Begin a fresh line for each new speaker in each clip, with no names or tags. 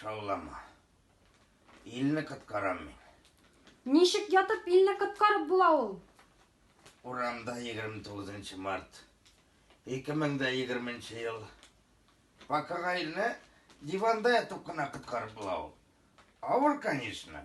Шаулама. Илне коткарам мин. Ничек
ятып илне коткарып була ул? Урамда
29 март 2020 ел. Пакага илне диванда ятып кына коткарып була ул. Авыр, конечно.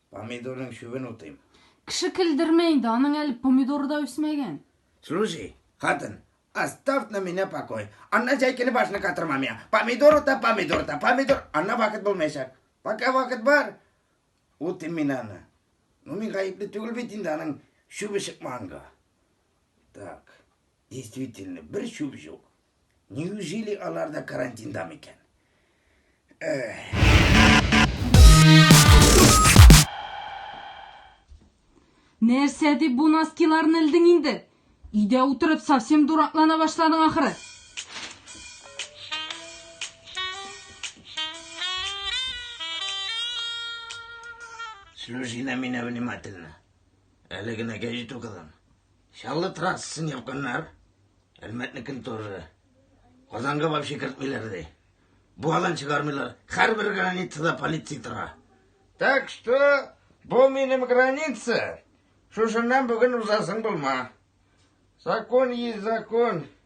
Помидорның чүбен утыйм. Кеше көлдермә
инде, аның әле помидоры да үсмәгән. Слушай,
хатын, оставь на меня покой. Аннан җәйкене башны катырма миңа. Помидор ута, помидор ута, помидор. Анна вакыт булмаячак. Пока вакыт бар, утыйм мин аны. Ну, мин гаепле түгел бит инде аның чүбе чыкмаганга. Так. Действительно, бер чүп жук. Неужели алар да карантинда микән?
Нәрсә дип бу носкиларны элдең инде? Өйдә утырып совсем дураклана башладың ахыры.
Слушай на меня внимательно. Әле генә гәҗит укыдым. Чаллы трассасын япканнар. Әлмәтнекен тоже. Казанга вообще кертмиләр ди. Буадан чыгармыйлар. Һәрбер границада полиция тора. Так что бу минем граница. Шушыннан бүген узасың булма. Закон есть закон.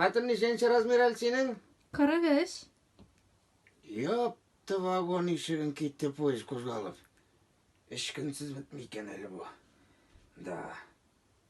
Хатын ничәнче размер әле синең? 43.
Япты
вагон ишеген китте поезд кузгалып. Эшкенсез бетми икән әле бу. Да.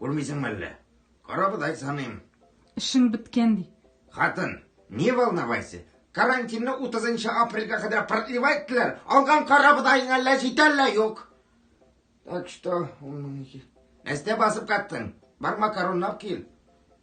Күрмисең
мәллә? Кара бодай саныйм. Эшең беткән
ди. Хатын,
не волновайся. Карантинны 30 апрельгә кадәр продлевать иттеләр. Алган кара бодайың әллә җитә, әллә юк. Так что, Нәрсә басып каттың? Бар макароннап кил.